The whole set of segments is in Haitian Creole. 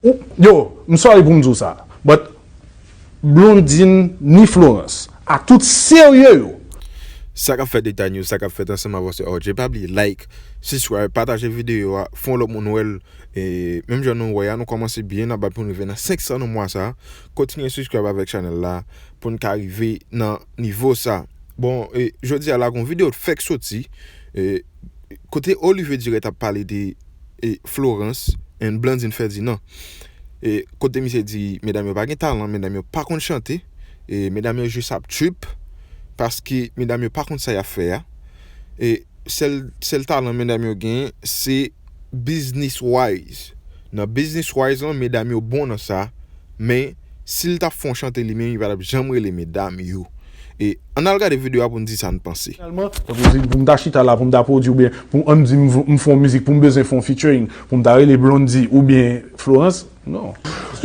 Yo, m sorry pou m di w sa, but Blondine ni Florence, a tout serye yo, Sa kap fèt Eta News, sa kap fèt ansanm avanse RJ pa bliye like, subscribe, pataje videyo a, fon lòt moun wèl e menm jan nou wè a nou kòmanse byen nap bat poun rive nan 500 nan mwa sa, kontinye subscribe avèk chanèl la poun ka rive nan nivo sa. Bon e jodi a la gon videyo t fèk soti e kote Olivier Durette ap pale de. e Florence and Blandine Ferdinand e kote misye di medam yo pa gen talan medam yo pa konn chante e medam yo jis ap trip paske medam yo pa konn sa yap fè a e sèl sèl talan medam yo gen se business wise nan business wise lan medam yo bon nan sa men sil tap fon chante li menm li patap janm rele medam yo. E ann al gade video a pou n di sa n panse. Finalman, tankou si pou m ta chita la pou m ta pwodui oubyen pou ann di m fè yon mizik pou m bezwen fè yon featuring pou m ta rele Blondie oubyen Florence, non.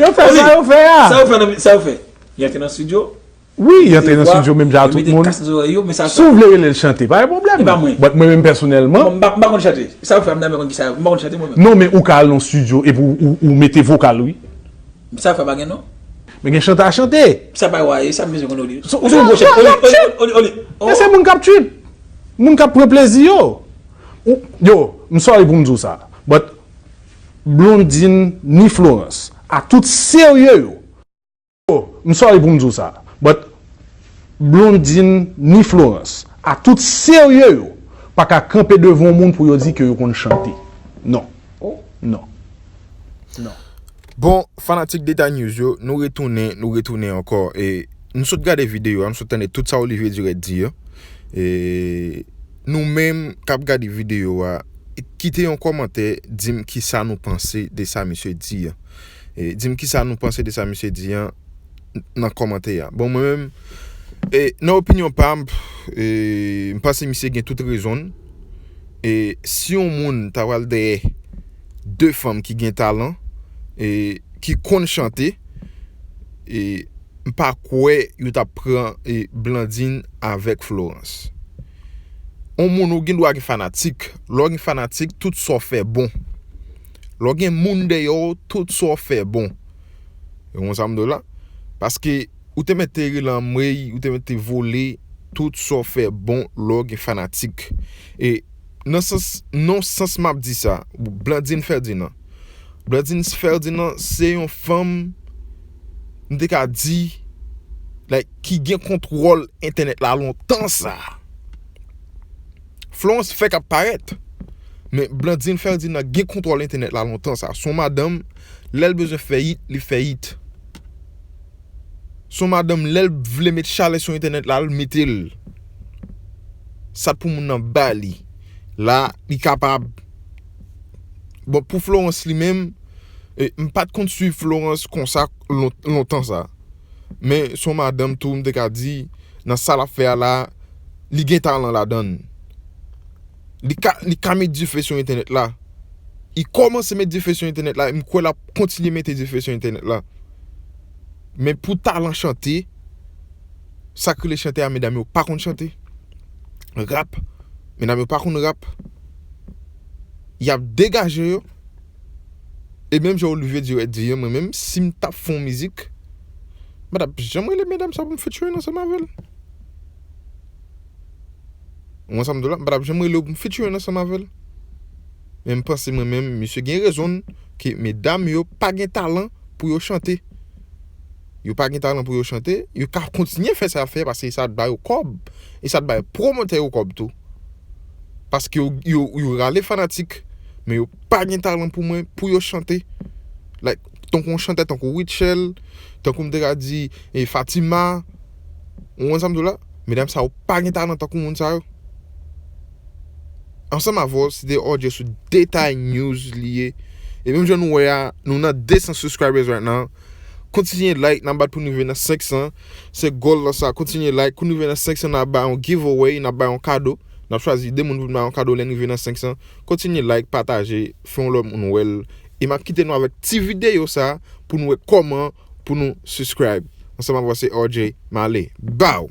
Yo fè sa yo fè a. Sa yo fè nan Sa yo fè? Yo antre nan studio? Wi, yo antre nan studio menm jan ak tout moun. Si w vle rele l chante, pa gen pwoblèm. E pa mwen. But mwen menm pèsonèlman. M pa konn chante. Sa yo fè a m ta renmen konn kisa yo fè. M pa konn chante mwen menm. Non men ou ka al nan studio epi w mete vokal wi. Sa fè pa gen non. Men gen chante a chante. Sa bay wa e, sa m bezwen konnen ou di. Ou di yon gwo chante. Yap trip! Men se moun k ap trip. Moun k ap pran plezi yo. Yo, m sorry pou m di w sa. But, Blondine ni Florence, ak tout serye yo. Yo, m sorry pou m di w sa. But, Blondine ni Florence, ak tout serye yo, pa ka kanpe devan yon moun pou yo di ke yo konn chante. Non. Oh non. Non. Bon fanatik deta news yo nou retounen nou retounen ankò e nou sot gade video a nou sot tande tout sa Olivier Durette di yo e nou menm kap gade video a kite yon kòmantè dim kisa nou panse de sa misye di an e dim kisa nou panse de sa misye di an nan kòmantè a bon mwen menm e nan opinyon pam e m panse misye gen tout rezon l E si yon moun ta pral dèyè 2 fanm ki gen talan e ki konn chante e m pa kwè yo tap pran e Blandine avèk Florence. On moun ou gen dwa gen fanatik, lè w gen fanatik tout sa w fè bon. Lè w gen moun dèyè w tout sa w fè bon. Ou konn sa m di w la? Paske Ou te mèt te rele anmweyy ou te mèt te vole tout sa w fè bon lè w gen fanatik e nan sans non sans map di sa Blandine Ferdinand Blandine Ferdinand se yon fanm m te ka di like ki gen kontwòl entènèt la lontan sa Florence fèk ap parèt men Blandine Ferdinand gen kontwòl entènèt la lontan sa son madanm lè l bezwen fè it li fè it. Son madanm lèl vle met chalè sou entènèt la l metel sat pou moun nan bali la li kapab bon pou Florence li menm m pat konn swiv Florence konsa lontan sa men son madanm tou m te ka di nan sa lap fè a la li gen talan ladann. Li ka met dife sou entènèt la. Li kòmanse met dife sou entènèt la. M kwè l ap kontinye mete dife sou entènèt la. Men pou talan chante, sa k rele chante a, medam yo pa konn chante. Rap, medam yo pa konn rap. Y ap degaje yo. E menm jan Olivier Durette di an, mwen menm, si m t ap fè yon mizik, m pa t ap janm rele medam sa pou m featuring ansanm avè l. Mwen sa m di w la, m pa t ap janm rele w pou m featuring ansanm avè l. Men m panse mwen menm, misye gen rezon l, ke medam yo pa gen talan pou yo chante. Yo pa gen talan pou yo chante, yo ka kontinye fè sa y ap fè paske sa ap ba yo kòb, e sa ap bay pwomotè yo kòb tou. Paske yo, yo rale fanatik, men yo pa gen talan pou mwen, pou yo chante. Like, tankou yon chantè tankou Rutshelle, tankou m te ka di Fatima. Ou wè sa m di w la? Medam sa yo pa gen talan tankou moun sa yo. Ansanm avè w, se de odyo sou detay news li ye. E menm jan nou wè a, nou nan 200 subscribers right now. Kontinye like, nan bat pou nou rive nan 500. Se goal la sa, kontinye like. Kou nou rive nan 500, nan ba yon giveaway, nan ba yon kado. Nan chwazi de moun pou nan ba yon kado lè nou rive nan 500. Kontinye like, pataje, fè yon lòt moun wè l. E m ap kite nou avèk ti videyo sa pou nou wè kòman Pou nou subscribe ansanm avwa se RJ male baww.